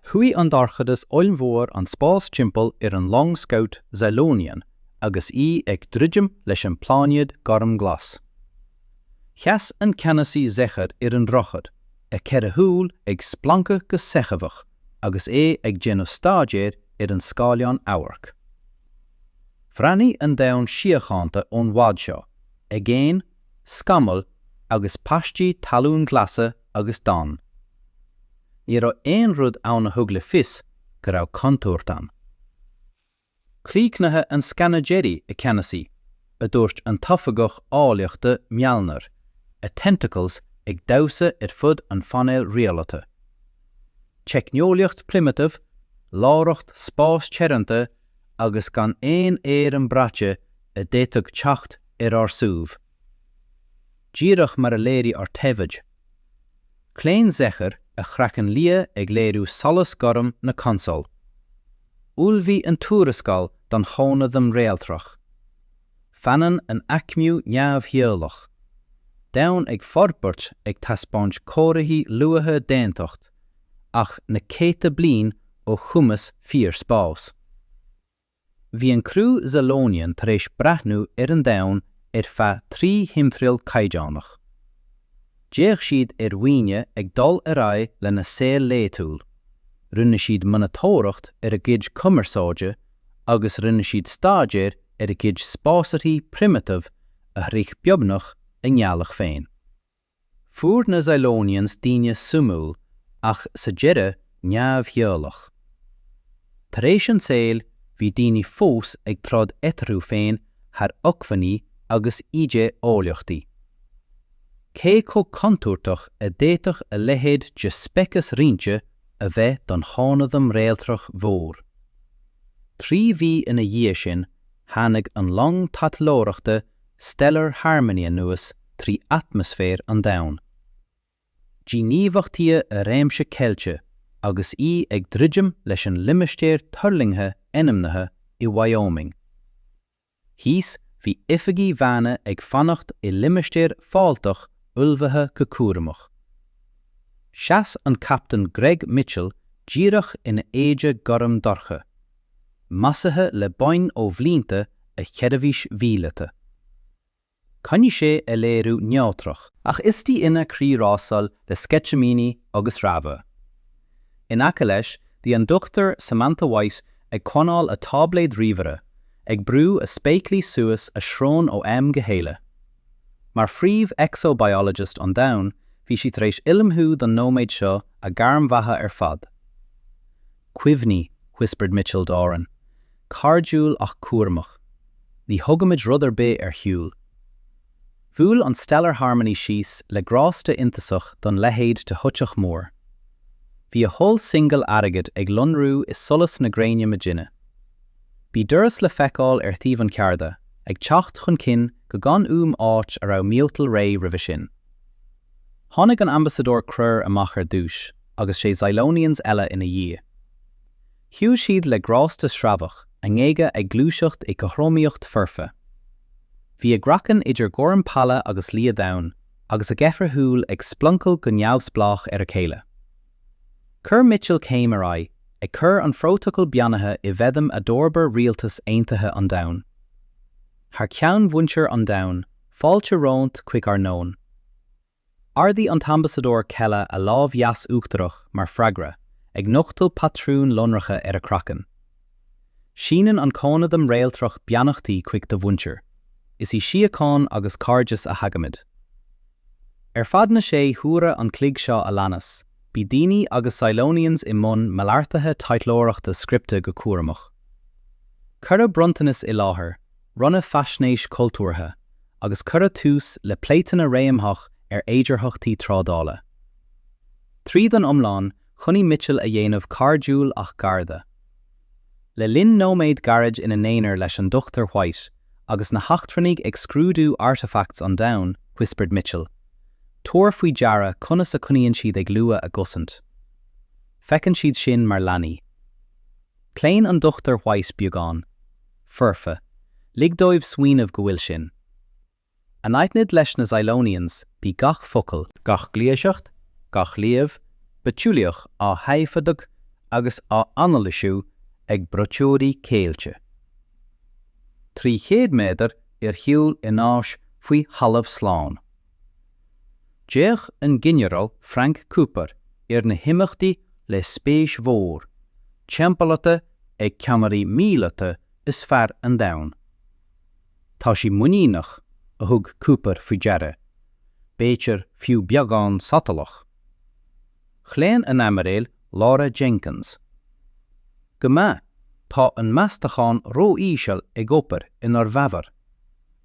Chuaigh an dorchadas ollmhór an spás timpeall ar an long scout Zalonian agus í ag druidim leis an bpláinéad gormghlas. Sheas an Ceannasaí Zecher ar an droichead, a cheithre shúil ag splancadh go seicheamhach agus é ag déanamh staidéir ar an scáileán amhairc. Bhreathnaigh an domhan síochánta ón bhfad seo, aigéin, scamaill agus paistí talún glasa agus donn. Ní raibh aon rud ann a thug le fios go raibh contúirt ann. Críochnaithe an scanadh deiridh, a Cheannasaí, a dúirt an tOifigeach Eolaíochta Mealnar, a tentacles ag damhsa ar fud an phainéil rialata. Teicneolaíocht primitive, láithreacht spáis teoranta agus gan aon airm braite a d'fhéadfadh teacht ar ár suíomh. díreach mar a léirigh ár dtaifid. Chlaon Zecher a chraiceann liath ag léiriú solas gorm na consóil. Ullmhaigh an tuarascáil don chónaidhm réaltrach. Fanann an aicmiú neamhdhíobhálach. Domhan ag forbairt ag taispeáint comharthaí luatha d'aontacht, ach na céadta bliain ó chumas fíor-spás. Bhí an criú Zalonian tar éis breathnú ar an domhan ar feadh trí thimthriall caighdeánach. D'fhéach siad ar dhaoine ag dul ar aghaidh lena saol laetúil, rinne siad monatóireacht ar a gcuid cumarsáide agus rinne siad staidéar ar a gcuid spásárthaí primitive a shroich beagnach a ngealach féin. Fuair na Zalonians daoine suimiúil ach sa deireadh neamhdhíobhálach. Tar éis an tsaoil bhí daoine fós ag troid eatarthu féin thar acmhainní agus idé-eolaíochtaí. Cé chomh contúirteach a d'fhéadfadh a leithéid de speiceas roinnte a bheith don chónaidhm réaltrach mhór? Trí mhí ina dhiaidh sin tháinig an long taidhleoireachta Stellar Harmony anuas trí atmaisféar an domhain. Díghníomhachtaíodh a réimse ceilte agus í ag druidim leis an limistéar tuirlingthe ainmnithe i Wyoming. Thíos bhí oifigigh dhaonna ag fanacht i limistéar fáilteach ullmhaithe go cúramach. Sheas an Captaen Greg Mitchell díreach ina éide gorm dorcha. measartha le boinn ó bhlianta a sheirbhís mhíleata. Choinnigh sé a léiriú neodrach. Ach istigh ina chroí rásáil le sceitimíní agus rabhadh. In aice leis bhí an Dr Samantha White ag coinneáil a táibléad ríomhaire, ag brú a spéaclaí suas a srón ó am go chéile. Mar phríomh exo-biologist an domhain bhí sí tar éis ullmhú don nóiméad seo a gairm bheatha ar fad. Cuimhní, whispered Mitchell Darren, cairdiúil ach cúramach. Ní thugaimid rud ar bith ar shiúl. Bhuail an Stellar Harmony síos le grásta iontasach don leithéid de shoitheach mór. Bhí a hull singil airgid ag lonrú i solas na gréine maidine. Bhí doras le feiceáil ar thaobh an chearda, ag teacht chun cinn go gan uaim áit a raibh miotal réidh roimhe sin. Tháinig an tAmbasadóir Croir amach ar dtúis agus sé Zilonians eile ina dhiaidh. Shiúil siad le grásta sreabhach, a ngéaga ag gluaiseacht i gcothromaíocht foirfe. Bhí a gcraiceann idir gorm pála agus liath domhain agus a gceithre shúil ag sploncail go neamhspleách ar a chéile. Chuir Mitchell céim ar aghaidh, ag cur an phrótacal beannaithe i bhfeidhm a d'fhorbair Rialtas Aontaithe an Domhain. Thar ceann mhuintir an domhain. Fáilte romhat chuig ár ndomhan. Ardaigh an tAmbasadóir Kela a lámh dheas uachtarach mar freagra, ag nochtadh patrúin lonracha ar a craiceann. Síneann an cónaidhm réaltrach beannachtaí chuig do mhuintir. Is i síocháin agus cairdeas a thagaimid. Ar feadh na sé huaire an chloig seo a leanas, bhí daoine agus Zilonians i mbun malartaithe taidhleoireachta scripte go cúramach. Cuireadh bronntanas i láthair, roinneadh faisnéis chultúrtha, agus cuireadh tús le pléiteanna réamhtheach ar fhéidearthachtaí trádála. Tríd an iomlán, choinnigh Mitchell a dhéanamh cairdiúil ach garda. Le linn nóiméad gairid ina n-aonar leis an Dr White, agus na heachtrannaigh ag scrúdú artefacts an domhain, whispered Mitchell, Tabhair faoi deara conas a choinníonn siad ag lua a gcosaint. Feiceann siad sinn mar leanaí. Chlaon an Dr White beagán. foirfe, lig dóibh smaoineamh go bhfuil sinn. Anaithnid leis na Zilonians, bhí gach focal, gach gluaiseacht, gach léamh bitheolaíoch á thaifeadadh agus á anailisiú ag braiteoirí ceilte. Trí chéad méadar ar shiúl in áis faoi thalamh slán. D'fhéach an Ginearál Frank Cooper ar na himeachtaí le spéis mhór, timpeallaithe ag ceannairí míleata is fearr an domhain. Tá sí muiníneach, a thug Cooper faoi deara, b'fhéidir fiú beagán sotalach. Chlaon an Aimiréil Laura Jenkins. Go maith, tá an meastachán ró-íseal ag obair inár bhfabhar.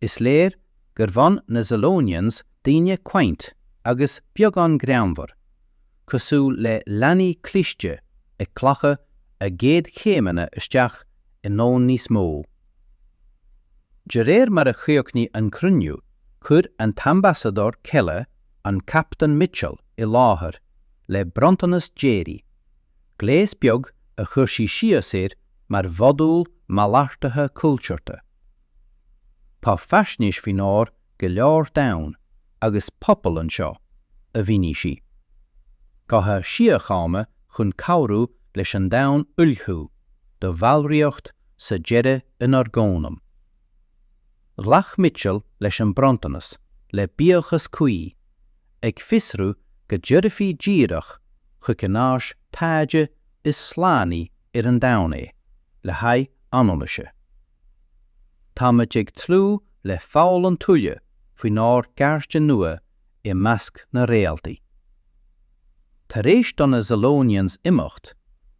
Is léir gur bhain na Zilonians daoine quaint agus beagán greannmhar, cosúil le leanaí cliste ag glacadh a gcéad chéimeanna isteach i ndomhan níos mó. De réir mar a chríochnaigh an cruinniú chuir an tAmbasadóir Keller an Captaen Mitchell i láthair le bronntanas deiridh, gléas beag a chuir sí síos air mar mhodúl malartaithe cultúrtha. Tá faisnéis faoinár go leor domhan agus pobal anseo, a mhínigh sí. Gotha síochána chun cabhrú leis an domhan ullmhú do bhallraíocht sa deireadh inár gcónaidhm. Ghlac Mitchell leis an bronntanas le buíochas cuí, ag fiosrú go dtabharfaí díreach chuig an áis taighde is slánaí ar an domhan é le haghaidh anailíse. Táimid ag tnúth le foghlaim tuilleadh faoinár gcairde nua i measc na réaltaí. Tar éis do na Zilonians imeacht,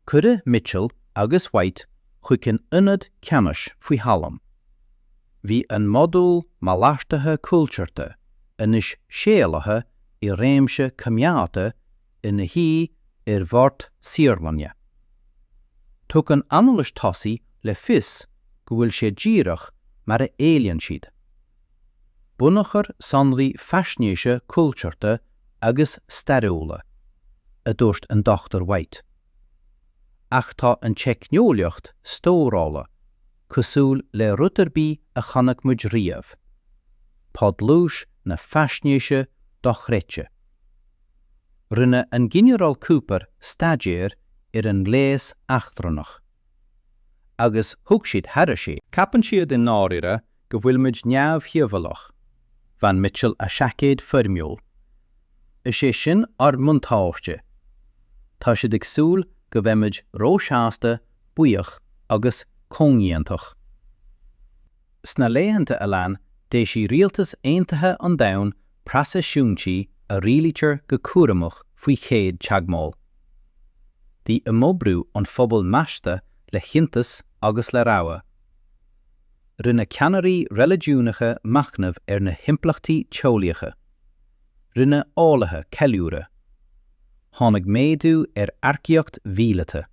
cuireadh Mitchell agus White chuig an ionad ceannais faoi thalam. Bhí an modúl malartaithe cultúrtha anois séalaithe i réimse coimeádta ina shuí ar bhord saotharlainne. Tugann anailis tosaigh le fios go bhfuil sé díreach mar a éilíonn siad. Bunachar sonraí faisnéise cultúrtha agus stairiúla, a dúirt an Dr White. Ach tá an teicneolaíocht stórála cosúil le rud ar bith a chonaic muid riamh, tá dlús na faisnéise dochreidte. Rinne an Ginearál Cooper staidéar ar an ngléas eachtrannach, agus thug siad thairis é. Ceapann siad i ndáiríre go bhfuil muid neamhdhíobhálach, bhain Mitchell a seaicéad foirmiúil. Is é sin ár mbuntáiste. Tá siad ag súil go mbeimid róshásta, buíoch agus comhlíontach. Sna laethanta a lean, d'éisigh Rialtas Aontaithe an Domhain preaseisiúintí a rialaítear go cúramach faoi chéad teagmháil. Bhí imoibriú an phobail measctha le hiontas agus le rabhadh. Rinne ceannairí reiligiúnacha machnamh ar na himpleachtaí teolaíocha. Rinne eolaithe ceiliúradh. Tháinig méadú ar earcaíocht mhíleata.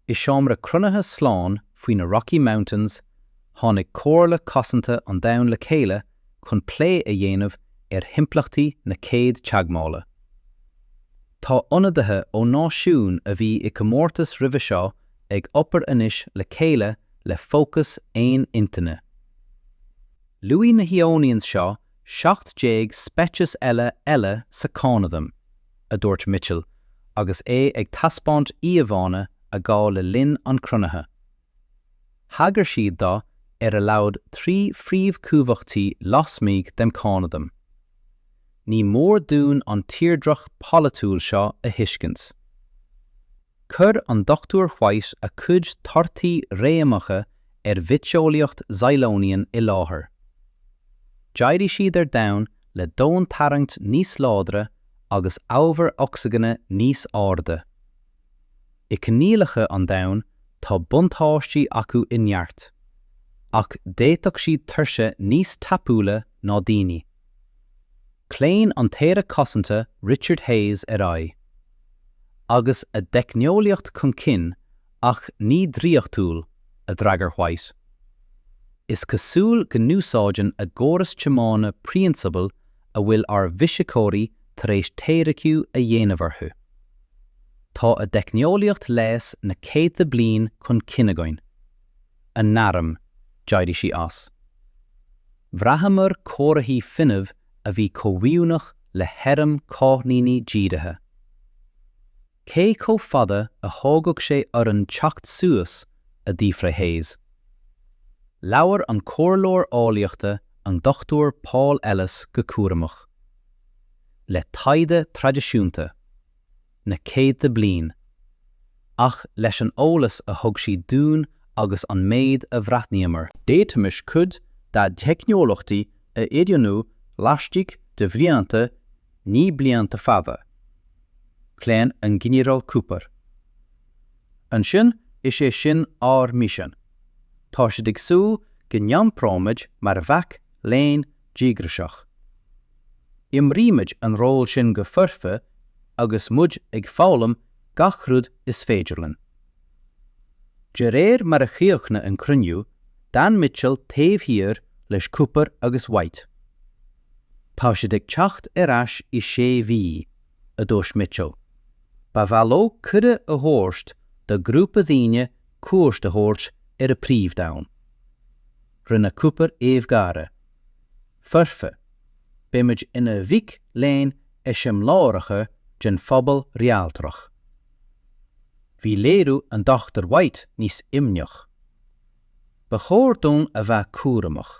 I seomra cruinnithe slán faoi na Rocky Mountains, tháinig Comhairle Cosanta an Domhain le chéile chun plé a dhéanamh ar himpleachtaí na chéad teagmhála. Tá ionadaithe ó náisiúin a bhí i gcomórtas roimhe seo ag obair anois le chéile le fócas aon intinne. Luaigh na hIonians seo 17 speiceas eile eile sa Chónaidhm, a dúirt Mitchell agus é ag taispeáint íomhánna a gabhadh le linn an chruinnithe. Thagair siad do ar a laghad trí phríomhchumhachtaí lasmuigh den Chónaidhm. Ní mór dúinn an tírdreach polaitiúil seo a thuiscint. Chuir an Dr White a cuid torthaí réamhacha ar bhitheolaíocht Xylonian i láthair. D'éirigh siad ar domhan le domhantarraingt níos láidre agus ábhar ocsaigine níos airde. I coinníollacha an domhain tá buntáistí acu i neart, ach d'fhéadfadh siad tuirse níos tapúla ná daoine. Chlaon an tAire Cosanta Richard Hayes ar aghaidh agus a dteicneolaíocht chun cinn ach ní draíochtúil, a d'fhreagair White. Is cosúil go n-úsáideann a gcóras tiomána prionsabail a bhfuil ár bhfisiceoirí tar éis teoiriciú a dhéanamh orthu. Tá a dteicneolaíocht leighis na céadta bliain chun cinn againn. a n-airm, d'éirigh sí as. Bhraitheamar comharthaí fuinnimh a bhí comhoiriúnach le hairm cáithníní dírithe. Cé chomh fada a thógfadh sé orainn teacht suas? a d'fhiafraigh Hayes. Labhair an comhairleoir eolaíochta an Dr Paul Ellis go cúramach. Le taighde traidisiúnta. na céadta bliain, ach leis an eolas a thug siad dúinn agus an méid a bhreathnaíomar, d'fhéadfaimis cuid dá dteicneolaíochtaí a oiriúnú laistigh de bhlianta, ní blianta fada. Chlaon an Ginearál Cooper. Ansin, is é sin ár misean. Tá siad ag súil go n-iompróimid mar mhac léinn díograiseach. Imrímid an ról sin go foirfe agus muid ag foghlaim gach rud is féidir linn. De réir mar a chríochnaigh an cruinniú, d'fhan Mitchell taobh thiar leis Cooper agus White. Tá siad ag teacht ar ais i sé mhí, a dúirt Mitchell. Ba mhaith leo cuireadh a thabhairt do ghrúpa daoine cuairt a thabhairt ar a bpríomhdhomhan. Rinne Cooper aoibh gháire. Foirfe. Beidh muid ina mhic léinn eiseamláireacha den phobal réaltrach. Bhí léiriú an Dr White níos imníoch. Ba chóir dúinn a bheith cúramach.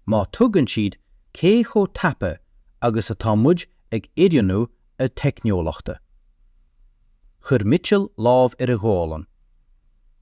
Má thuigeann siad cé chomh tapa agus atá muid ag oiriúnú a dteicneolaíochta. Chuir Mitchell lámh ar a ghualainn.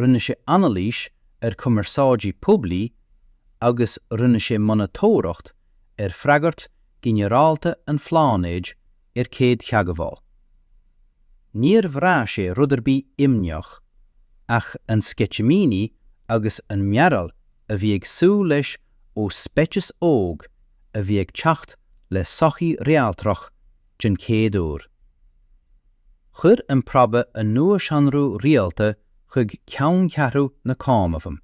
rinne sé anailís ar chumarsáidí poiblí agus rinne sé monatóireacht ar freagairt ghinearálta an phláinéid ar chéadtheagmháil. Níor bhraith sé rud ar bith imníoch, ach an sceitimíní agus an mearbhall a bhí ag súil leis ó speiceas óg a bhí ag teacht le sochaí réaltrach, den chéad uair. Chuir an Probe a nuashonrú rialta chuig ceanncheathrú na Cónaidhme.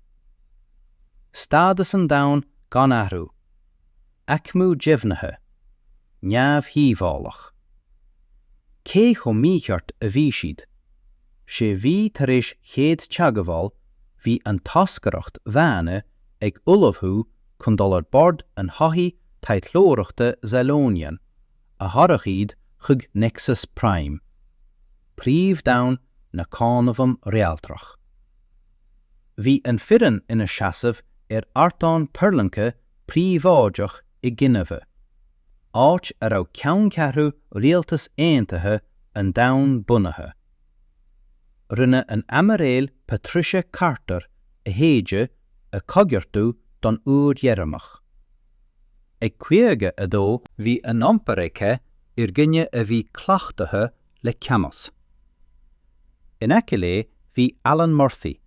Stádas an domhain gan athrú, aicmiú deimhnithe, neamhdhíobhálach. Cé chomh mícheart a bhí siad. Sé mhí tar éis chéad teagmháil bhí an toscaireacht dhaonna ag ullmhú chun dul ar bord an shoithí taidhleoireachta Zalonian, a thabharfadh iad chuig Nexus Prime, príomh-domhan na cónaidhm réaltrach. Bhí an foireann ina seasamh ar ardán tuirlingthe príobháideach i nGinéive, áit a raibh ceanncheathrú Rialtas Aontaithe an Domhain bunaithe. Rinne an Aimiréil Patricia Carter a héide a choigeartú don uair dheireanach. Ag 52, bhí an iompar aici ar dhuine a bhí cleachtaithe le ceannais. In aice léi bhí Alan Murphy,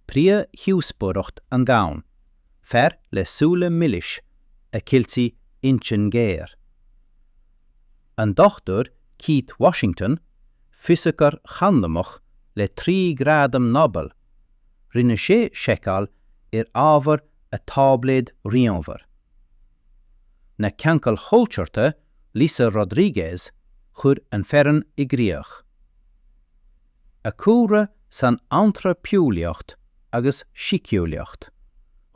príomh dhíospóireacht an domhain, fear le súile milis a cheiltí intinn ghéar. An Dr Keith Washington, fisiceoir chandamach le trí ghradam Nobel, rinne sé seiceáil ar ábhar a táibléad ríomhaire. Na ceangail chultúrtha Lisa Rodriguez chuir an fhoireann i gcríoch. A cúlra san antraipeolaíocht agus síceolaíocht,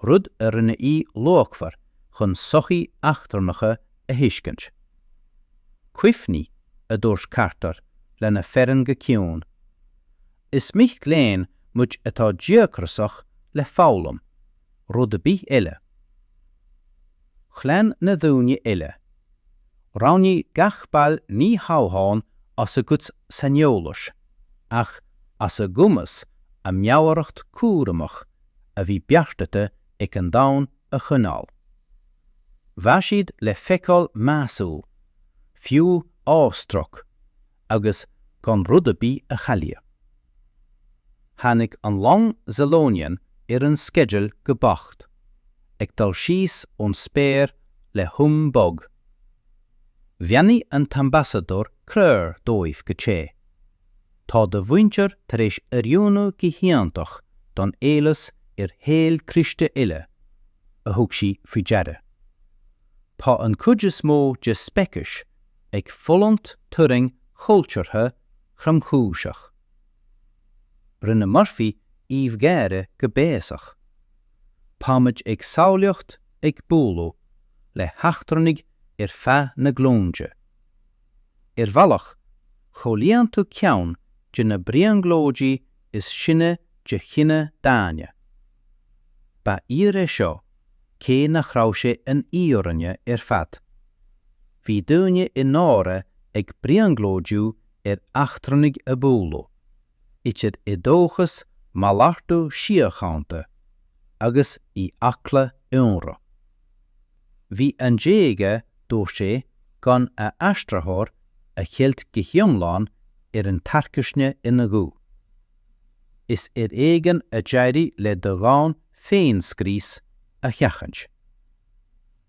rud a rinne í luachmhar chun sochaí eachtrannacha a thuiscint. Cuimhnigh, a dúirt Carter lena foireann go ciúin, Is mic léinn muid atá díograsach le foghlaim, rud ar bith eile. Chlaon na daoine eile. Roghnaigh gach ball ní hamháin as a gcuid saineolais, ach as a gcumas a meabhaireacht cúramach a bhí beartaithe ag an domhan a choinneáil. Bheadh siad le feiceáil measúil, fiú awestruck, agus gan rud ar bith a chailleadh. Tháinig an long Zalonian ar an sceideal go beacht, ag dul síos ón spéir le hum bog. Bheannaigh an tAmbasadóir Kerr dóibh go te. Tá do mhuintir tar éis oiriúnú go hiontach don eolas ar shaol cliste eile, a thug sí faoi deara. Tá an chuid is mó de speiceas ag fulaingt turraing chultúrtha thromchúiseach. Rinne Murphy aoibh gháire go béasach. Táimid ag samhlaíocht ag bualadh le heachtrannaigh ar feadh na glúinte. Ar bhealach, chomhlíonann tú ceann de na brionglóidí is sine de chine daonna. Ba fhíor é seo cé nach raibh sé an fhírinne ar fad. Bhí daoine i ndáiríre ag brionglóidiú ar eachtrannaigh a bualadh, idir i dóchas malartú síochánta agus i eagla ionradh. Níl ann d'éaga, dúirt sé, gan a aistritheoir a cheilt go hiomlán ar an tarcaisne ina ghuth. Is ar éigean a d'éirigh le do dhomhan féinscrios a sheachaint.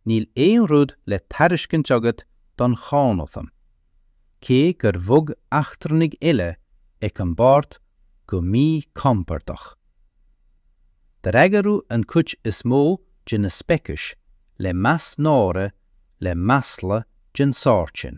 Níl aon rud le tairiscint agat don chónaidhm, cé gur bhog eachtrannaigh eile ag an mbord go míchompordach. D'fhreagródh an chuid is mó de na speicis le meas náire le masla den sórt sin.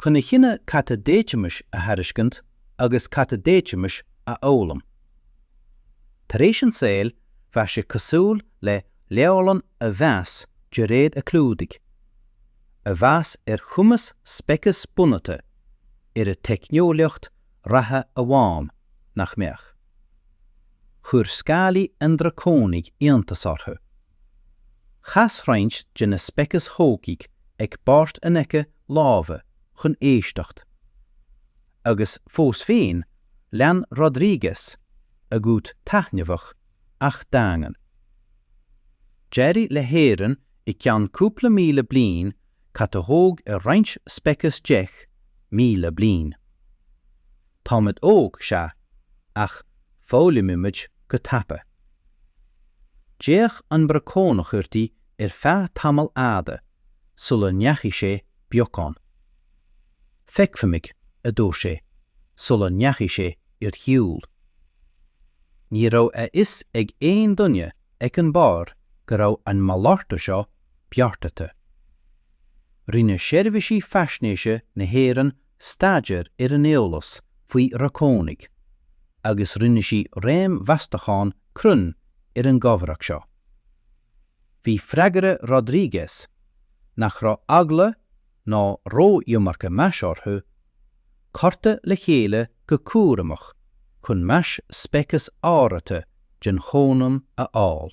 Chun a chinneadh cad a d'fhéadfaimis a thairiscint agus cad a d'fhéadfaimis a fhoghlaim. Tar éis an tsaoil, bheadh sé cosúil le leabharlann a mheas de réir a clúdaigh, a mheas ar chumas speiceas bunaithe ar a teicneolaíocht reatha amháin, nach mbeadh? Chuir scálaí an Dracónaigh iontas orthu. Chas roinnt de na speiceas thógaigh ag bord in aice láimhe chun éisteacht. Agus fós féin, lean Rodriguez, a ghuth taitneamhach, ach daingean. D'éirigh le hÉirinn i gceann cúpla míle bliain cad a thóg ar roinnt speiceas 10,000 bliain. Táimid óg, sea, ach foghlaimímid go tapa. D'fhéach an Dracónach uirthi ar feadh tamaill fhada sular ndeachaigh sé beagán. Feicfimid, a dúirt sé sular ndeachaigh sé ar shiúl. Ní raibh a fhios ag aon duine ag an bheár go raibh an malartú seo beartaithe. Rinne seirbhísí faisnéise na hÉireann staidéar ar an eolas faoi Dhracónaigh agus rinne sí réamh-mheastachán cruinn ar an gcomhrá seo. Bhí freagra Rodriguez, nach raibh eagla ná ró-iomarca meas orthu, curtha le chéile go cúramach chun meas speiceas áraithe den chónaidhm a fháil.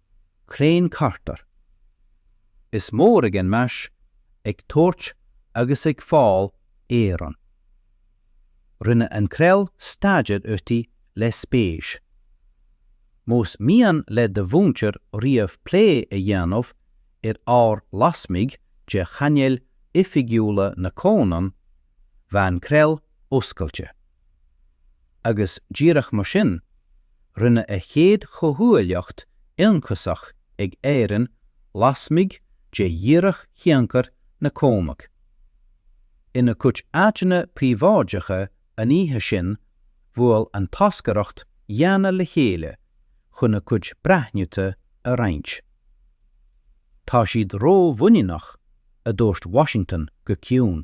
Klein Carter. Is mór ag an meas ag tabhairt agus ag fáil éireann. Rinne an Krill staidéar uirthi le spéis. Más mian le do mhuintir riamh plé a dhéanamh ar ábhar lasmuigh de chainéil oifigiúla na Cónaidhm, bheadh an Krill oscailte. agus díreach mar sin, rinne a chéad chomhghuaillíocht ionchasach ag Éirinn lasmuigh de dhíreach thionchar na Cóimeach. Ina cuid áiteanna príobháideacha an oíche sin, bhuail an toscaireacht dhaonna le chéile chun a cuid breathnuithe a roinnt. Tá siad ró-mhuiníneach, a dúirt Washington go ciúin.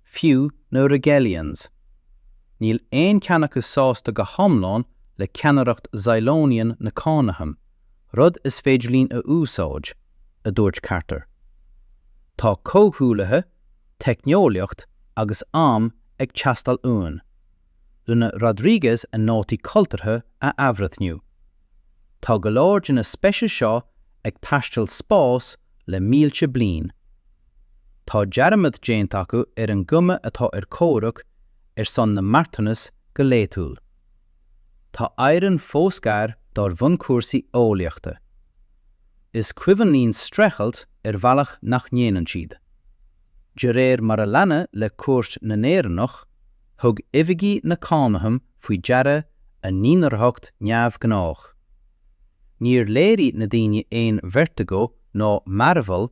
Fiú na Rigelians, níl aon cheann acu sásta go hiomlán le ceannaireacht Zylonian na Cónaidhm, rud is féidir linn a úsáid, a dúirt Carter. Tá comhghuaillithe, teicneolaíocht agus am ag teastáil uainn. Rinne Rodriguez a nótaí cultúrtha a athbhreithniú. Tá go leor de na speicis seo ag taisteal spáis le mílte bliain. Tá dearmad déanta acu ar an gcuma atá ar comhrac ar son na marthanas go laethúil. Tá Éireann fós gar dár bhunchúrsaí eolaíochta. Is cuimhin linn streachailt ar bhealach nach ndéanann siad. De réir mar a leanadh le cuairt na nÉireannach, thug oifigigh na Cónaidhm faoi deara a n-inathraitheacht neamhghnách. Níor léirigh na daoine aon vertigo ná mearbhall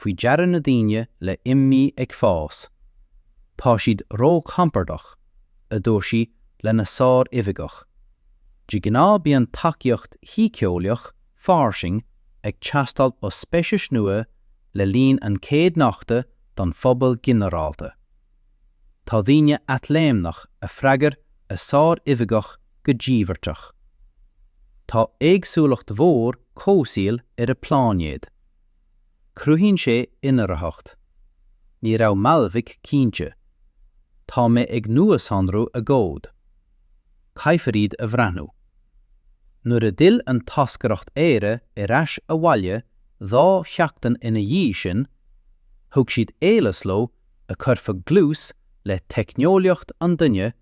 faoi deara na daoine le imní ag fás, tá siad róchompordach, a dúirt sí lena sár-oifigeach. De ghnáth bíonn tacaíocht shíceolaíoch fairsing ag teastáil ó speicis nua le linn an chéad nochta don phobal ginearálta. Tá daoine athléimneach a freagair a sár-oifigeach go díbeartach. Tá éagsúlacht mhór comhsaoil ar a bpláinéad. Cruthaíonn sé inathraitheacht. Ní raibh Malvik cinnte. Tá mé ag nuashonrú a gcomhad. Caithfear iad a bhreathnú. Nuair a d'fhill an toscaireacht Éire ar ais abhaile dhá sheachtain ina dhiaidh sin, thug siad eolas leo a chuirfeadh dlús le teicneolaíocht an duine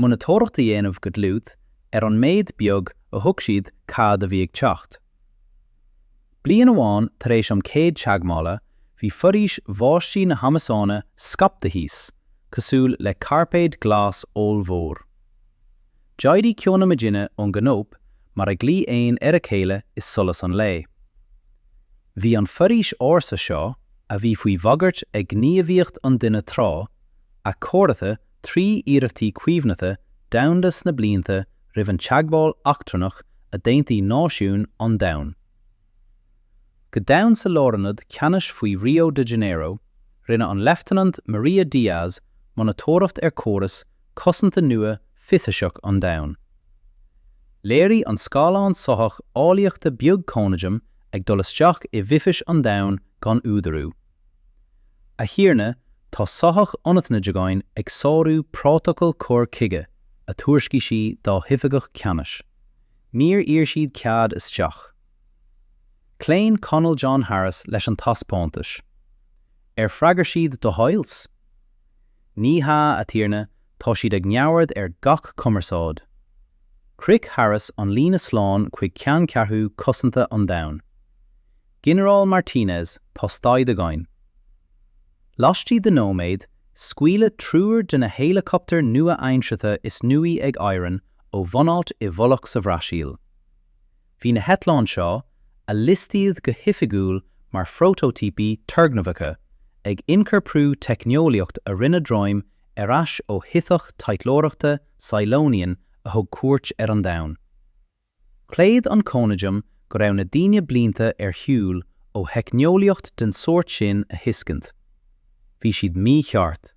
monatóireacht a dhéanamh go dlúth ar an méid beag a thuig siad cad a bhí ag teacht. Bliain amháin tar éis an chéad teagmhála bhí foraois bháistí na hAmasóine scaipthe thíos cosúil le cairpéad glas ollmhór. D'éirigh ceo na maidine ón gcanóip mar a ghlaoigh éin ar a chéile i solas an lae. Bhí an foraois ársa seo, a bhí faoi bhagairt ag gníomhaíocht an duine tráth, athchóirithe trí iarrachtaí caomhnaithe domhanda sna blianta roimh an teagmháil eachtrannach a d'aontaigh náisiúin an domhain. Go domhain sa lárionad ceannais faoi Rio de Janeiro, rinne an Leifteanant Maria Diaz monatóireacht ar chóras cosanta nua fithiseach an domhain. Léirigh an scáileán soitheach eolaíochta beag Cónaidhm ag dul isteach i bhfithis an domhain gan údarú. A Thiarna, tá soitheach anaithnid againn ag sárú Prótacal Cur Chuige, a thuairiscigh sí dá hoifigeach ceannais. Níor iarr siad cead isteach. Chlaon Coirnéal John Harris leis an taispeántais. Ar fhreagair siad do hails? Ní hea, a Thiarna, tá siad ag neamhaird ar gach cumarsáid. Shroich Harris an líne slán chuig ceanncheathrú cosanta an domhain. Ginearál Martinez tá staid againn. Laistigh de nóiméad, scaoileadh triúr de na héileacaptar nua-aimseatha is nuaí ag Éirinn ó bhunáit i bhfolach sa Bhrasaíl. Bhí na heitleáin seo, a liostaíodh go hoifigiúil mar phrótótípí turgnamhacha, ag ionchorprú teicneolaíocht a rinneadh droim ar ais ó shoitheach taidhleoireachta Cylonian a thug cuairt ar an Domhan. Chreid an Cónaidhm go raibh na daoine blianta ar shiúl ó theicneolaíocht den sórt sin a thuiscint. Bhí siad mícheart.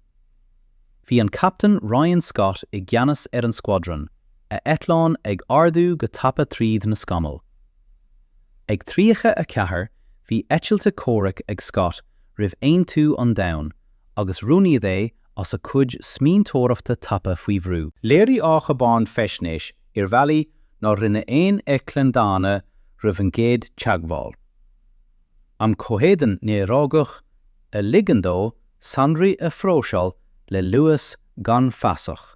Bhí an Captaen Ryan Scott i gceannas ar an squadron, a eitleán ag ardú go tapa tríd na scamaill. Ag 34 bhí eitilte comhraic ag Scott roimh aontú an domhain agus roghnaíodh é as a cuid smaointeoireachta tapa faoi bhrú. Léirigh a chábán faisnéis ar bhealaí nár rinne aon eitleán daonna roimh an gcéad teagmháil. An comhéadan néarógach a ligeann dó sonraí a phróiseáil le luas gan fasach.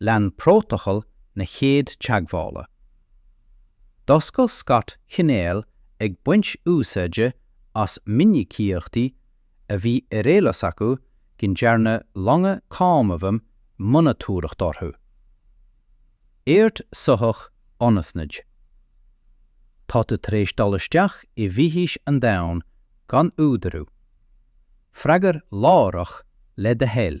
lean prótacal na chéad teagmhála. D'oscail Scott cainéal ag baint úsáide as minicíochtaí a bhí ar eolas acu go ndearna longa Cónaidhm monatóireacht orthu. Aird soitheach anaithnid. Tá tú tar éis dul isteach i bhfithis an domhain gan údarú. Freagair láithreach le do thoil.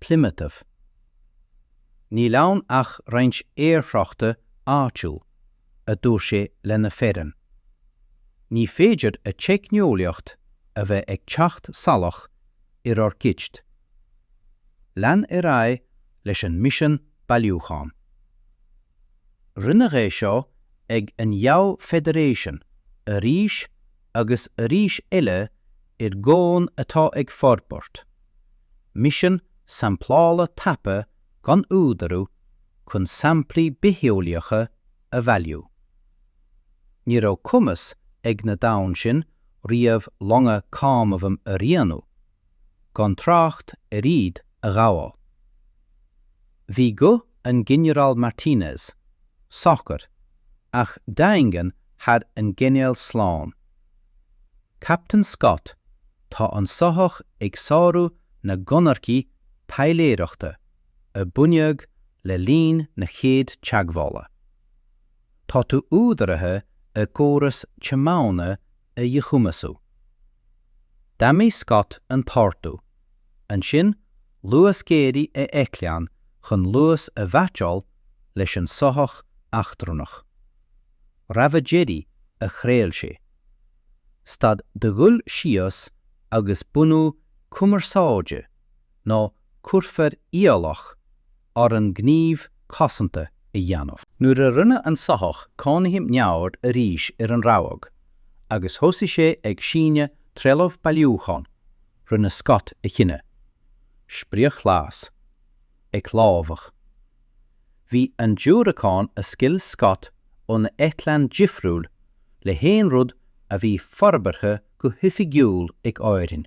Plymouthf. Níl ann ach roinnt aerthráchta áitiúil, a dúirt sé lena fhoireann. Ní féidir a teicneolaíocht a bheith ag teacht salach ar ár gcuid. Lean ar aghaidh leis an misean bailiúcháin. Rinneadh é seo ag an gComh-Federation arís agus arís eile ar dhomhan atá ag forbairt, misean samplála tapa gan údarú chun samplaí bitheolaíocha a bhailiú. Ní raibh cumas ag na domhain sin riamh longa Cónaidhm a rianú, gan trácht ar iad a ghabháil. Bhí guth an Ghinearáil Martinez socair ach daingean thar an gcainéal slán. Captain Scott, tá an soitheach ag sárú na gconarthaí taidhleoireachta a bunaíodh le linn na chéad teagmhála. Tá tú údaraithe a gcóras tiomána a dhichumasú. D'admhaigh Scott an t-ordú, ansin luasghéaraigh a eitleán chun luas a mheaitseáil leis an soitheach eachtrannach. Rabhadh deiridh a chraol sé. Stad de dhul síos agus bunú cumarsáide nó cuirfear iallach orainn gníomh cosanta a dhéanamh. Nuair a rinne an soitheach cónaidhm neamhaird arís ar an rabhadh agus thosaigh sé ag síneadh trealamh bailiúcháin, rinne Scott a chinneadh. Sprioc-ghlas. Ag lámhach. Bhí an diúracán a scaoil Scott óna eitleán difriúil le haon rud a bhí forbartha go hoifigiúil ag Árainn.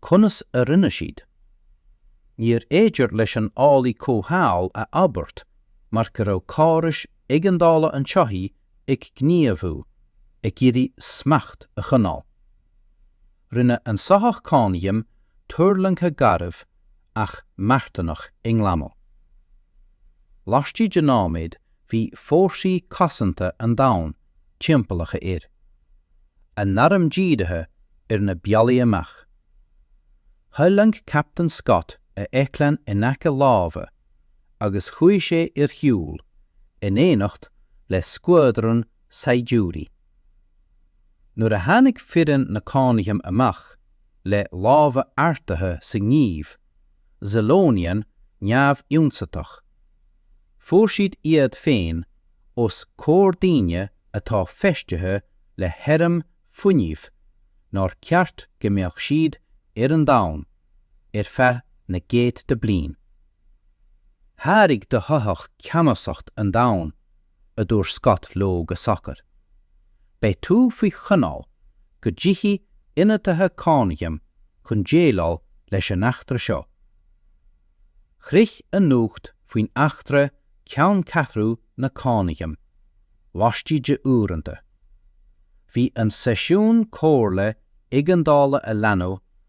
Conas a rinne siad? Níorbh fhéidir leis an eolaí comhshaoil a abairt mar go raibh córais éigeandála an tsoithigh ag gníomhú, ag iarraidh smacht a choinneáil. Rinne an soitheach cónaidhm tuirlingthe garbh ach marthanach i nglanadh. Laistigh de nóiméad bhí fórsaí cosanta an domhain timpeallaithe air, a n-airm dírithe ar na bealaí amach. Thuirling Captain Scott a eitleán in aice láimhe agus chuaigh sé ar shiúl in éineacht le scuadrún saighdiúirí. Nuair a tháinig foireann na cónaidhm amach le lámha ardaithe sa ngníomh, Zilonian neamhionsaitheach. Fuair siad iad féin os comhair daoine atá feistithe le hairm fuinnimh nár cheart go mbeadh siad ar an domhan ar feadh na gcéadta bliain. Sháraigh do shoitheach ceannasacht an domhain. a dúirt Scott leo go socair. Beidh tú faoi choinneáil go dtiochfaidh ionadaithe cónaidhm chun déileáil leis an eachtra seo. Shroich an nuacht faoin eachtra ceanncheathrú na cónaidhm laistigh de uaireanta. Bhí an seisiún comhairle éigeandála a leanadh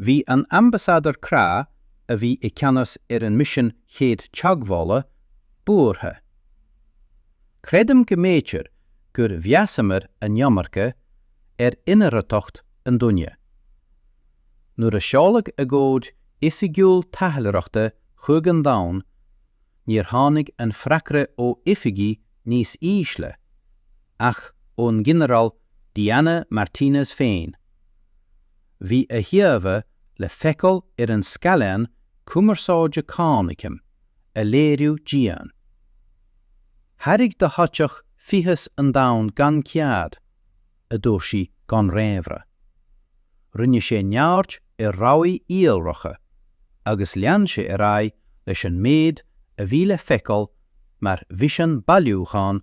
Bhí an Ambasadar Craith, a bhí i gceannas ar an misean chéad teagmhála, buartha. Creidim go mb'fhéidir gur mheasamar an iomarca ar inarartacht an duine. Nuair a seoladh agóid oifigiúil taidhleoireachta chuig an domhan, níor tháinig an freagra ó oifigí níos ísle, ach ón nGinearál Diana Martínez féin. Bhí a híomhá le feiceáil ar an scáileán cumarsáide Cónaidhm a léiriú dian. Thréig do shoitheach fithis an domhain gan cead, a dúirt sí gan réamhrá. Rinne sé neamhaird ar rabhaidh iolracha agus lean sé ar aghaidh leis an méid a bhí le feiceáil mar mhisean bailiúcháin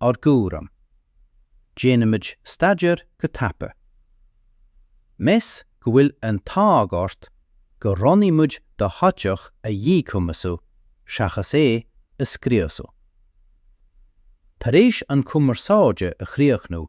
ár gcúram. Déanaimid staidéar go tapa. Meas go bhfuil an t-ádh ort gur roghnaigh muid do shoitheach a dhíchumasú seachas é a scriosadh. Tar éis an chumarsáide a chríochnú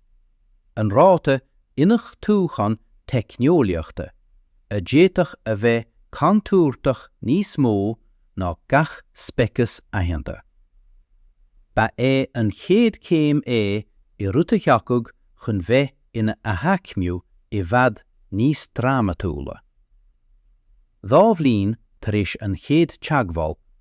an ráta iniúchtaúcháin teicneolaíochta, a d'fhéadfadh a bheith contúirteach níos mó ná gach speiceas aitheanta. Ba é an chéad chéim é i rud a thiocfadh chun bheith ina athaicmiú i bhfad níos drámatúla. Dhá bhliain tar éis an chéad teagmháil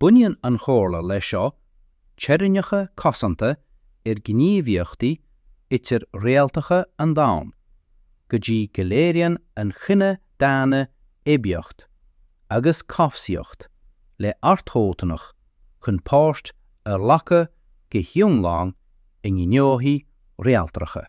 Bunaíonn an chomhairle leis seo teorainneacha cosanta ar ghníomhaíochtaí idir-réaltacha an Domhain, go dtí go léiríonn an chine daonna aibíocht agus cobhsaíocht leordhóthanach chun páirt a ghlacadh go hiomlán i ngnóthaí réaltracha.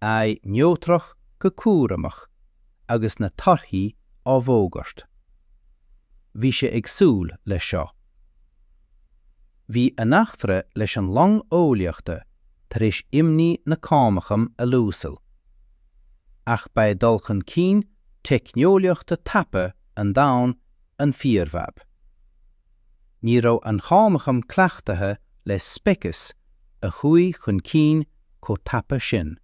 aghaidh neodrach go cúramach agus na torthaí á bhfógairt. Bhí sé ag súil leis seo. Bhí an eachtra leis an long eolaíochta tar éis imní na Cónaidhme a lúsail. Ach ba é dul chun cinn teicneolaíochta tapa an domhain an fíorfhadhb. Ní raibh an Chónaidhm cleachtaithe le speiceas a chuaigh chun cinn chomh tapa sin.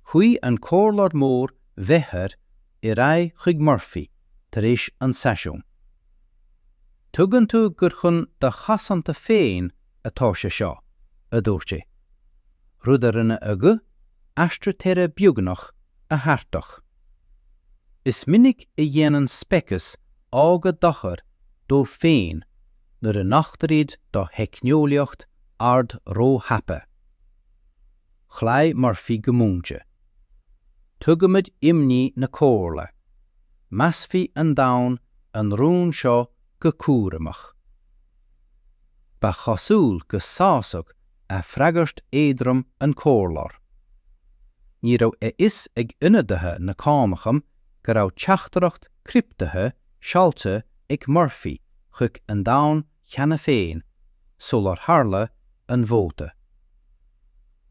Chuaigh an comhairleoir mór Bheathar ar aghaidh chuig Murphy tar éis an seisiún. Tuigeann tú gur chun do chosanta féin atá sé seo, a dúirt sé. Rud a rinne a ghuth aistritheora beagnach atharthach. Is minic a dhéanann speicis óga dochar dóibh féin nuair a nochtar iad do theicneolaíocht ard róthapa. Chloígh Murphy go múinte. Tuigimid imní na Comhairle. Measfaidh an domhan an rún seo go cúramach. Ba chosúil go sásódh a freagairt éadrom an comhairleoir. Ní raibh a fhios ag ionadaithe na Cónaidhme go raibh teachtaireacht criptithe seolta ag Murphy chuig an domhan cheana féin sular tharla an vóta.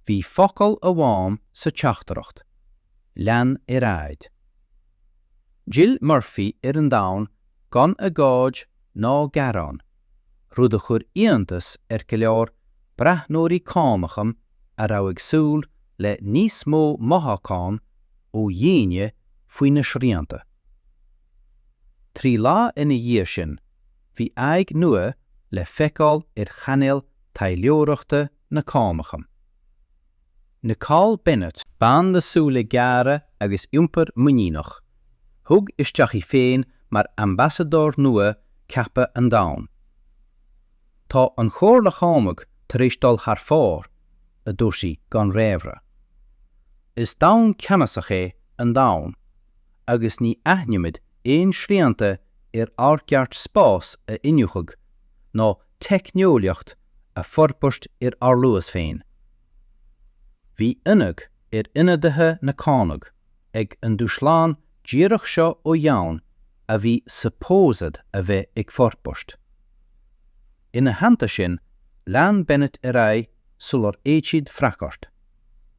Bhí focal amháin sa teachtaireacht, Lean ar aghaidh. D'fhill Murphy ar an domhan gan agóid ná gearán rud a chuir iontas ar go leor breathnóirí Cónaidhme a raibh ag súil le níos mó mothúchán ó dhaoine faoi na srianta. Trí lá ina dhiaidh sin, bhí aghaidh nua le feiceáil ar chainéal taidhleoireachta na Cónaidhme. Nicole Bennett. Bean le súile géara agus iompar muiníneach, thug isteach í féin mar ambasadóir nua ceaptha an domhain. Tá an Chomhairle Chónaidhm tar éis dul thar fóir, a dúirt sí gan réamhrá. Is domhan ceannasach é an domhan agus ní aithnímid aon srianta ar ár gceart spás a iniúchadh nó teicneolaíocht a fhorbairt ar ár luas féin. Bhí ionadh ar ionadaithe na Cónaidhme ag an dúshlán díreach seo ó dhomhan a bhí supposed a bheith ag forbairt. Ina theannta sin, lean Bennett ar aghaidh sular fhéad siad freagairt.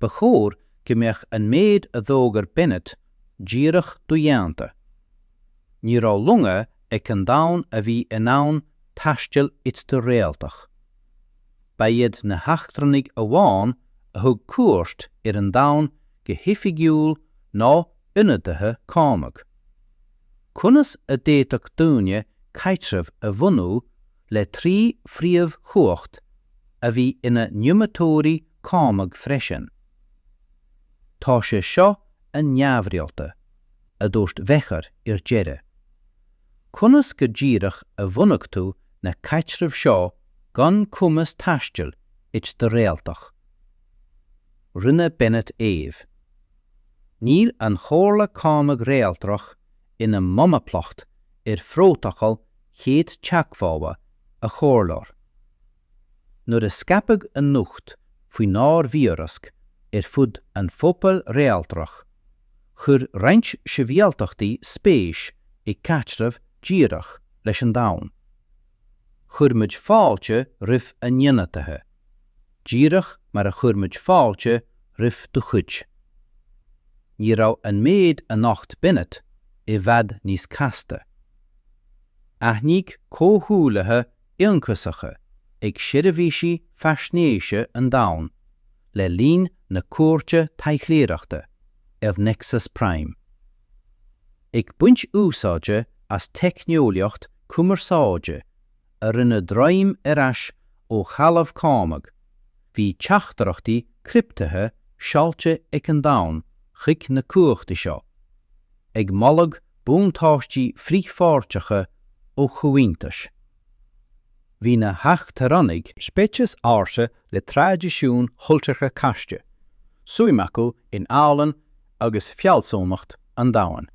Ba chóir go mbeadh an méid a d'fhógair Bennett díreach dodhéanta. Ní raibh longa ag an domhan a bhí in ann taisteal idir-réaltach. Ba iad na heachtrannaigh amháin a thug cuairt ar an domhan go hoifigiúil ná ionadaithe Cónaidhme. Conas a d'fhéadfadh daoine caidreamh a bhunú le trí phríomhchumhacht a bhí ina n-iomaitheoirí Cónaidhme freisin. Tá sé seo an-neamhrialta, a dúirt Wechar ar deireadh. Conas go díreach a bhunaigh tú na caidrimh seo gan cumas taistil idir-réaltach? Rinne Bennett aoibh. Níl an Chomhairle Chónaidhm Réaltrach ina monaplacht ar phrótacal chéad teagmhála a chomhairleoir. Nuair a scaipeadh an nuacht faoinár bhfíorasc ar fud an phobail réaltrach, chuir roinnt sibhialtachtaí spéis i gcaidreamh díreach leis an domhan. Chuir muid fáilte roimh a n-ionadaithe, díreach mar a chuir muid fáilte roimh do chuid. Ní raibh an méid a nocht Bennett i bhfad níos casta. Aithníodh comhghuaillithe ionchasacha ag seirbhísí faisnéise an domhain le linn na cuairte taidhleoireachta ar Nexus Prime. Ag baint úsáide as teicneolaíocht cumarsáide a rinne droim ar ais ó threalamh Cónaidhm, bhí teachtaireachtaí criptithe seolta ag an domhan chuig na cumhachtaí seo, ag moladh buntáistí frithpháirteacha ó chomhaontais. Bhí na heachtrannaigh, speiceas ársa le traidisiúin chultúrtha casta, suim acu in ealaín agus fealsúnacht an domhain.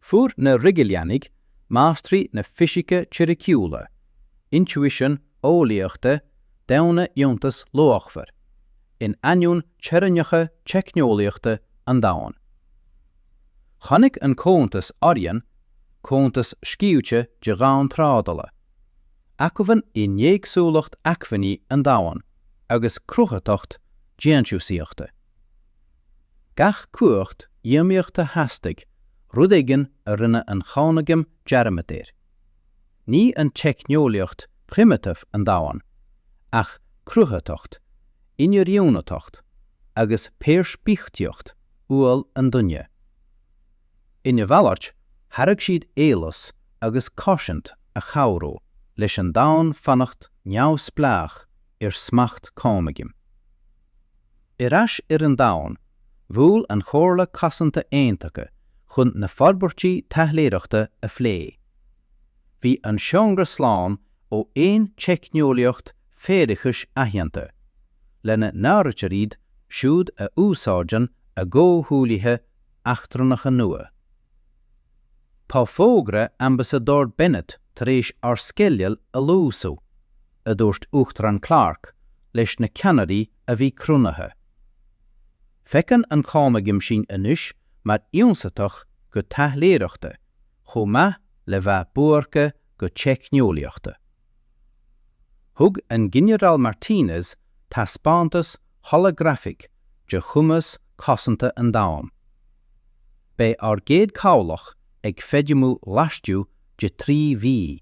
Fuair na Rigelianaigh, máistrí na fisice teoiriciúla, intuition eolaíochta daonna iontas luachmhar, in ainneoin teorainneacha teicneolaíochta an domhain. Chonaic an Comhaontas Orion, comhaontas scaoilte de dhomhain trádála, acmhainn in éagsúlacht acmhainní an domhain agus cruthaitheacht déantúsaíochta. Gach cumhacht iomaíochta theastaigh rud éigin a rinne an Chónaidhm dearmad air. Ní an teicneolaíocht primitive an domhan, ach cruthaitheacht, inoiriúnaitheacht agus peirspictíocht uathúil an duine. Ina mhalairt, thairg siad eolas agus cosaint a chabhródh leis an domhan fanacht neamhspleách ar smacht Cónaidhm. Ar ais ar an domhan, bhuail an Chomhairle Cosanta Aontaithe chun na forbairtí taidhleoireachta a phlé. Bhí an seomra slán ó aon teicneolaíocht faireachais aitheanta, lena n-áirítear iad siúd a úsáideann a gcomhghuaillithe eachtrannacha nua. Tá fógra Ambasadóir Bennett tar éis ár sceideal a luasú. a dúirt Uachtarán Clarke leis na ceannairí a bhí cruinnithe. Feiceann an Cónaidhm sinn anois mar ionsaitheach go taidhleoireachta chomh maith le bheith buartha go teicneolaíochta. Thug an Ginearál Martinez taispeántas holagrafach de chumas cosanta an domhain. Beidh ár gcéad cabhlach ag feidhmiú laistigh de trí mhí.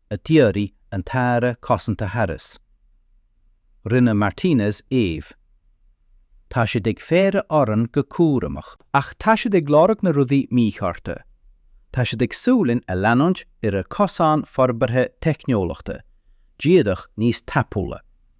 a d'fhiafraigh an tAire Cosanta Harris. Rinne Martinez aoibh. Tá siad ag faire orainn go cúramach. Ach tá siad ag lorg na rudaí míchearta. Tá siad ag súil linn a leanúint ar a gcosán forbartha teicneolaíochta, díreach níos tapúla.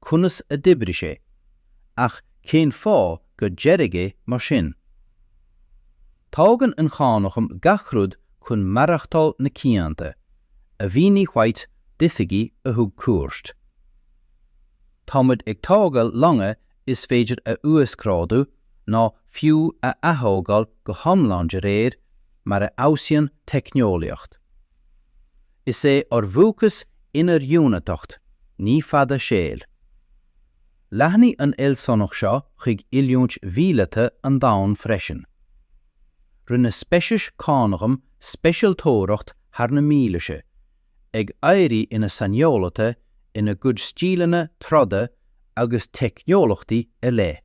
conas a d'oibrigh sé, ach cén fáth gur dearadh é mar sin? Tógann an Chónaidhm gach rud chun maireachtáil na cianta, a mhínigh White d'oifigigh a thug cuairt. Táimid ag tógáil longa is féidir a uasghrádú nó fiú a athógáil go hiomlán de réir mar a fheabhsaíonn teicneolaíocht. Is é ár bhfócas inoiriúnaitheacht, ní fad saoil. Leathnaigh an fhealsúnacht seo chuig oiliúint mhíleata an domhain freisin. Rinne speicis Cónaidhm speisialtóireacht thar na mílaoise, ag éirí ina saineolaithe ina gcuid stíleanna troda agus teicneolaíochtaí ar leith.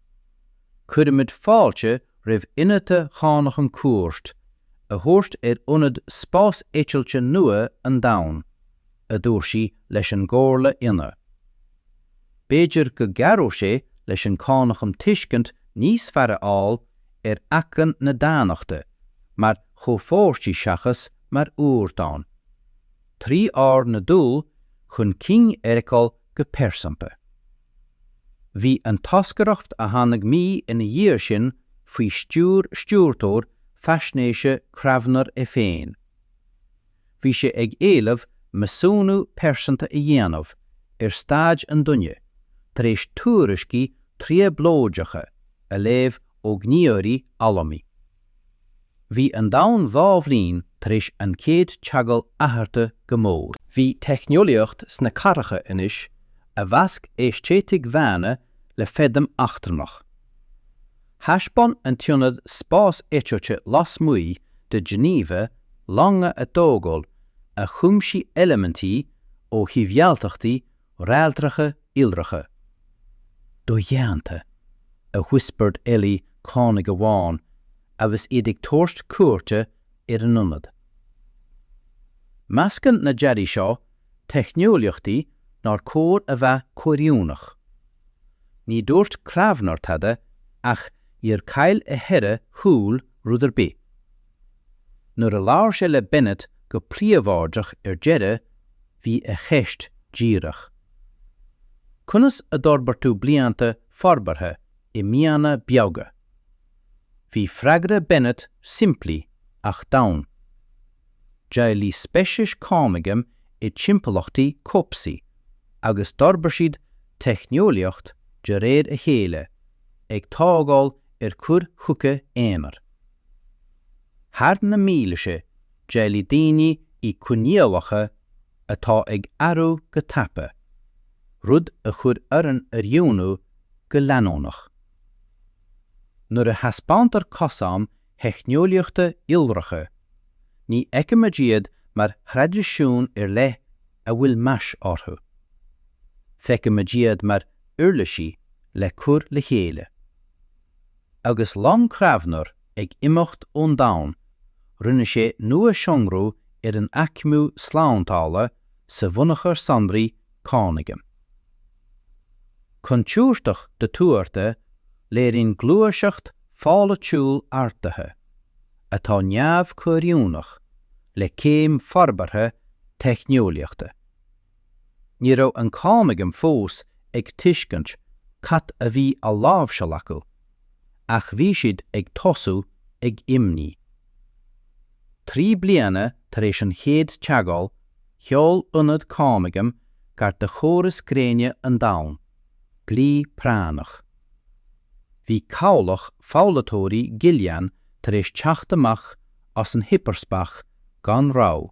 Cuirimid fáilte roimh ionadaithe Chónaidhm cuairt a thabhairt ar Ionad Spás Eitilte nua an Domhain, a dúirt sí leis an gComhairle ionadh. B'fhéidir go gcabhróidh sé leis an Chónaidhm tuiscint níos fearr a fháil ar acmhainn na daonnachta mar chomhpháirtí seachas mar ardán, trí ár n-dul chun cinn a fheiceáil go pearsanta. Bhí an toscaireacht a tháinig mí ina dhiaidh sin faoi stiúir stiúrthóir faisnéise Cravnor é féin. Bhí sé ag éileamh measúnú pearsanta a dhéanamh ar staid an duine tar éis tuairiscí trioblóideacha a léamh ó ghníomhairí allamuigh. Bhí an domhan dhá bhliain tar éis an chéad teagmháil athraithe go mór. Bhí teicneolaíocht sna cathracha anois a mheasc aeistéitic dhaonna le feidhm eachtrannach. Thaispeáin an t-ionad spás eitilte lasmuigh de Geneva longa á dtógáil a chuimsigh eilimintí ó shibhialtachtaí réaltracha iolracha, dodhéanta, a whispered eolaí Cónaidhm amháin agus iad ag tabhairt cuairte ar an ionad. Meascann na dearaí seo teicneolaíochtaí nár chóir a bheith comhoiriúnach. Ní dúirt Cravnor tada ach níor chaill a cheithre shúil rud ar bith. Nuair a labhair sé le Bennett go príobháideach ar deireadh, bhí a cheist díreach. Conas a d'fhorbair tú blianta forbartha i míonna beaga? Bhí freagra Bennett simplí ach domhain. D'éabhlaigh speicis Cónaidhm i dtimpeallachtaí cobhsaí agus d'fhorbair siad teicneolaíocht de réir a chéile, ag tógáil ar chur chuige aonair. Thar na mílaoise, d'éiligh daoine i coinníollacha atá ag athrú go tapa, rud a chuir orainn oiriúnú go leanúnach. Nuair a thaispeántar cosáin theicneolaíochta iolracha, ní fheicimid iad mar thraidisiún ar leith a bhfuil meas orthu. Feicimid iad mar uirlisí le cur le chéile. Agus long Kravener ag imeacht ón domhan, rinne sé nuashonrú ar an aicmiú slándála sa bhunachar sonraí Cónaidhm. Contúirteach dothuartha, léiríonn gluaiseacht pholaitiúil ardaithe, atá neamh-comhoiriúnach le céim forbartha teicneolaíochta, Ní raibh an Chónaidhm fós ag tuiscint cad a bhí á láimhseáil acu, ach bhí siad ag tosú ag imní. Trí bliana tar éis an chéad teagháil, sheol ionad Cónaidhm gar do chóras gréine an domhain, glao práinneach. Bhí cabhlach foghlaitheoirí Gillian tar éis teacht amach as an hipearspás gan rabhadh.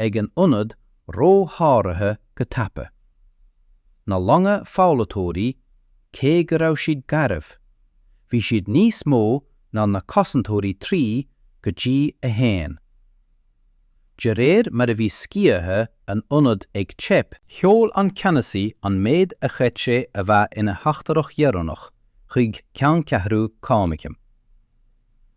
ag an ionad ró-sháraithe go tapa. Na longa foghlaitheoirí, cé go raibh siad garbh, bhí siad níos mó ná na cosantóirí 3 go dtí a 1. De réir mar a bhí sciatha an ionaid ag teip, sheol an ceannasaí an méid a chreid sé a bheith ina theachtaireacht dheireanach chuig ceanncheathrú Cónaidhm.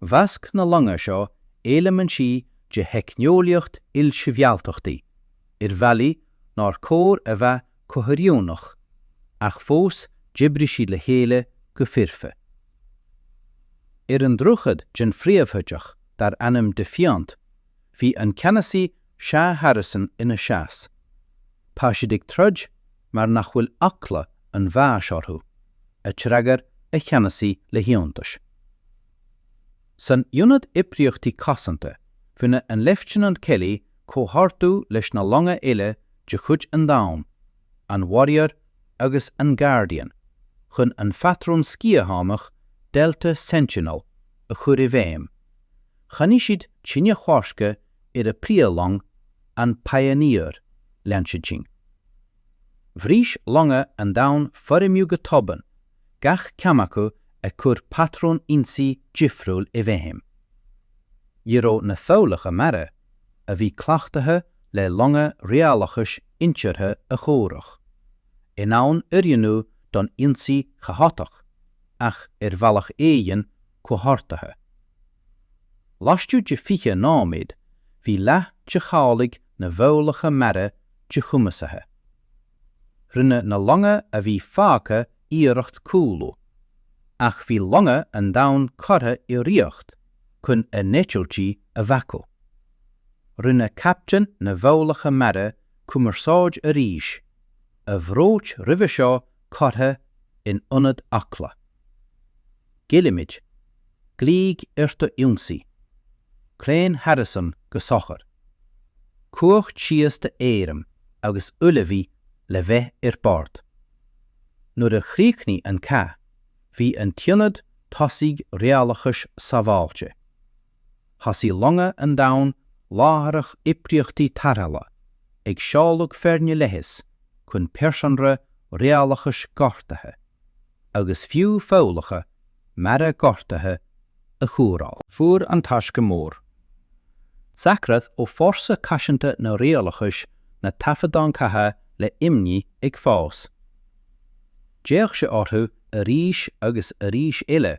Mheasc na longa seo eilimintí de theicneolaíocht ilsibhialtachtaí ar bhealaí nár chóir a bheith comhoiriúnach, ach fós d'oibrigh siad le chéile go foirfe. Ar an droichead den phríomhshoitheach dar ainm Defiant bhí an Ceannasaí Sea Harrison ina sheasamh. Tá siad ag troid mar nach bhfuil eagla an bháis orthu, a d'fhreagair a cheannasaí le hiontas. San Ionad Oibríochtaí Cosanta rinne an Leifteanant Kelly comhordú leis na longa eile de chuid an domhain, an Warrior agus an Guardian, chun an patrún sciathánach Delta Sentinel a chur i bhfeidhm. Choinnigh siad tine choiscthe ar a príomhlong an Pioneer lean sí dtinn. Bhris longa an domhain foirmiú go tobann, gach ceann acu ag cur patrún ionsaí difriúil i bhfeidhm. Ní raibh na foghlacha mara, a bhí cleachtaithe le longa rialachais intuartha a chomhrac, in ann oiriúnú don ionsaí chaotach ach ar bhealach éigin, comhordaithe. Laistigh de 20 nóiméad bhí leath de chabhlaigh na bhfoghlacha mara díchumasaithe. Rinne na longa a bhí fágtha iarracht cúlú, ach bhí longa an domhain curtha i riocht chun a n-eitiltí a bhacú. Rinne captaen na bhfoghlacha meara cumarsáid arís, a bhród roimhe seo curtha in ionad eagla. Géillimid, glaoigh ar do ionsaí! Claon Harrison go socair. Cumhacht síos do airm agus ullmhaigh le bheith ar bord. Nuair a chríochnaigh an cath, bhí an t-ionad tosaigh rialachais sábháilte. Thosaigh longa an domhain láithreach oibríochtaí tarrthála, ag seoladh foirne leighis chun pearsanra rialachais gortaithe, agus fiú foghlacha mara gortaithe, a chóireáil. Fuair an Taisce Mhór Saicread ó Fórsa Cosanta na Rialachais na taifeadáin chatha le imní ag fás. D'fhéach sé orthu arís agus arís eile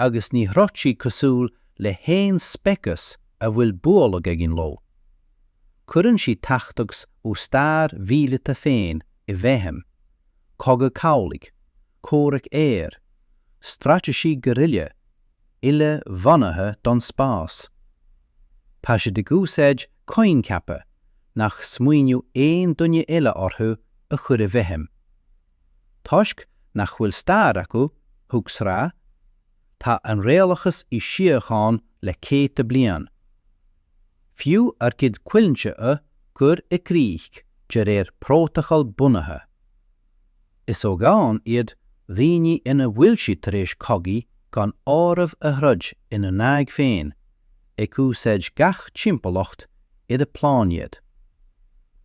agus ní throid siad cosúil le haon speiceas a bhfuil bualadh againn leo. Cuireann siad tactics ó stair mhíleata féin i bhfeidhm, cogadh cabhlaigh, comhrac aeir, straitéisí guerrilla uile-bhunaithe don spás. Tá siad ag úsáid coincheapa nach smaoineodh aon duine eile orthu a chur i bhfeidhm, Toisc nach bhfuil stair acu, thug sraith, Tá an Rialachas i síocháin le céadta bliain, fiú ár gcuid coimhlintí a cur i gcrích de réir prótacal bunaithe. Is ó dhomhan iad daoine ina bhfuil siad tar éis cogaí gan áireamh a throid ina n-aghaidh féin, ag úsáid gach timpeallacht dá bpláinéad.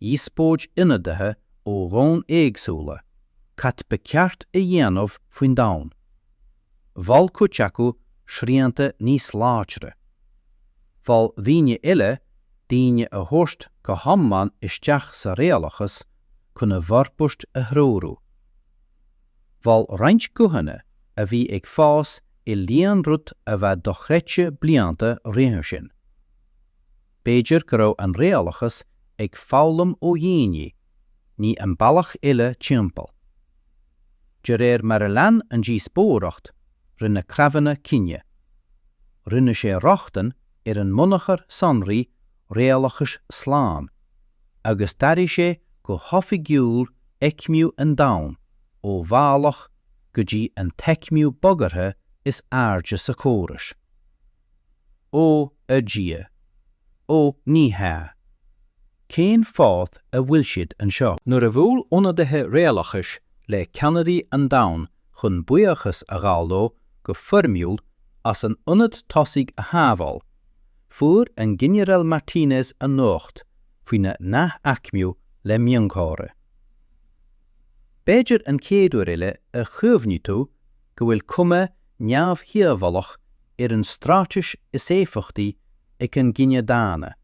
dhíospóid ionadaithe ó dhomhain éagsúla cad ba cheart a dhéanamh faoin domhan. Mhol cuid acu srianta níos láidre. Mhol daoine eile daoine a thabhairt go hiomlán isteach sa rialachas chun a bhforbairt a threorú. Mhol roinnt guthanna a bhí ag fás i líon rud a bheadh dochreidte blianta roimhe sin. B'fhéidir go raibh an réalachas ag foghlaim ó dhaoine, ní an bealach uile timpeall. De réir mar a lean an díospóireacht, rinne Craivenna cinneadh. Rinne sé rochtain ar an mbunachar sonraí réalachais slán, agus d'athraigh sé go hoifigiúil aicmiú an domhan ó bhealach go dtí an t-aicmiú bagartha is airde sa chóras. Ó a Dhia! Ó ní hea! Cén fáth a bhfuil siad anseo? Nuair a bhuail ionadaithe réalachais le ceannairí an domhain chun buíochas a ghabháil leo go foirmiúil as an ionad tosaigh a shábháil, fuair an Ginearál Martínez an nuacht faoina n-athaicmiú le miongháire. B'fhéidir an chéad uair eile a chuimhní tú go bhfuil cuma neamhdhíobhálach ar an straitéis is éifeachtaí ag an gcine daonna,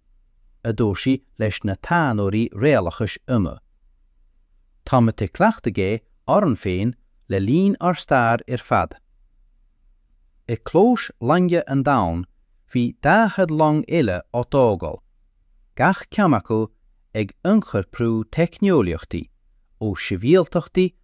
a dúirt sí leis na taidhneoirí réalachais ionaid. Táimid ag cleachtadh é orainn féin le linn ár stair ar fad. I gclóis loinge an domhain bhí 40 long eile á dtógáil, gach ceann acu ag ionchorprú teicneolaíochtaí ó shibhialtachtaí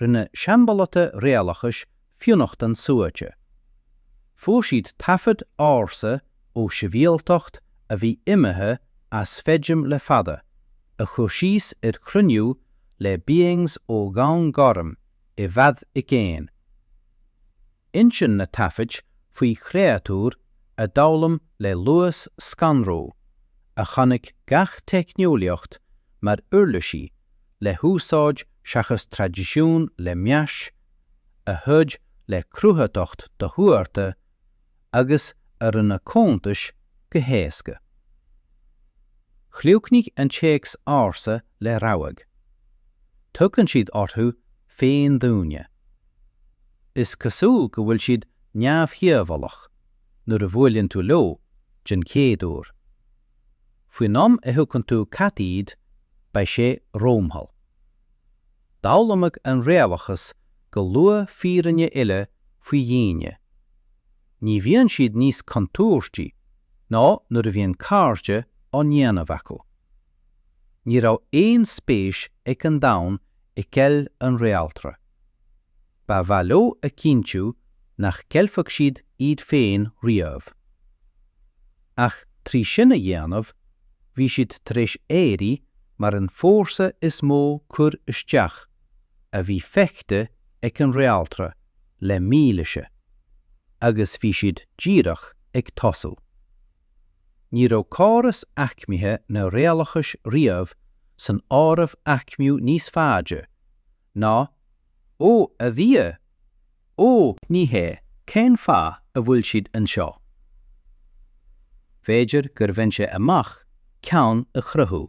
Rinne seanbhallta réalachais fionnachtain suaite. Fuair siad taifid ársa ó shibhialtacht a bhí imithe as feidhm le fada, a chur síos ar chruinniú le 'beings' ó dhomhan gorm i bhfad i gcéin. Insíonn na taifid faoi chréatúir a d'fhoghlaim le luas scanrúil, a chonaic gach teicneolaíocht mar uirlisí le húsáid seachas traidisiún le meas, a throid le cruthaitheacht dothuartha agus a rinne cuntais go héasca. Chríochnaigh an téacs ársa le rabhadh. Tugann siad orthu féin daoine. Is cosúil go bhfuil siad neamhdhíobhálach nuair a bhuaileann tú leo den chéad uair. Faoin am a thuigeann tú cad iad beidh sé rómhall. D'fhoghlaimeodh an réalachas go luath fírinne eile faoi dhaoine. Ní bhíonn siad níos contúirtí ná nuair a bhíonn cairde á ndéanamh acu. Ní raibh aon spéis ag an domhan i gceilt an réaltra. Ba mhaith leo a chinntiú nach gceilfeadh siad iad féin riamh. Ach trí sin a dhéanamh, bhí siad tar éis éirí mar an fórsa is mó cur isteach a bhí feicthe ag an réaltra le mílaoise, agus bhí siad díreach ag tosú. Ní raibh córas aicmithe na réalachais riamh san áireamh aicmiú níos faide ná Ó a Dhia, Ó! Ní hea, cén fáth a bhfuil siad anseo? B'fhéidir gur bhain sé amach ceann a chruthú.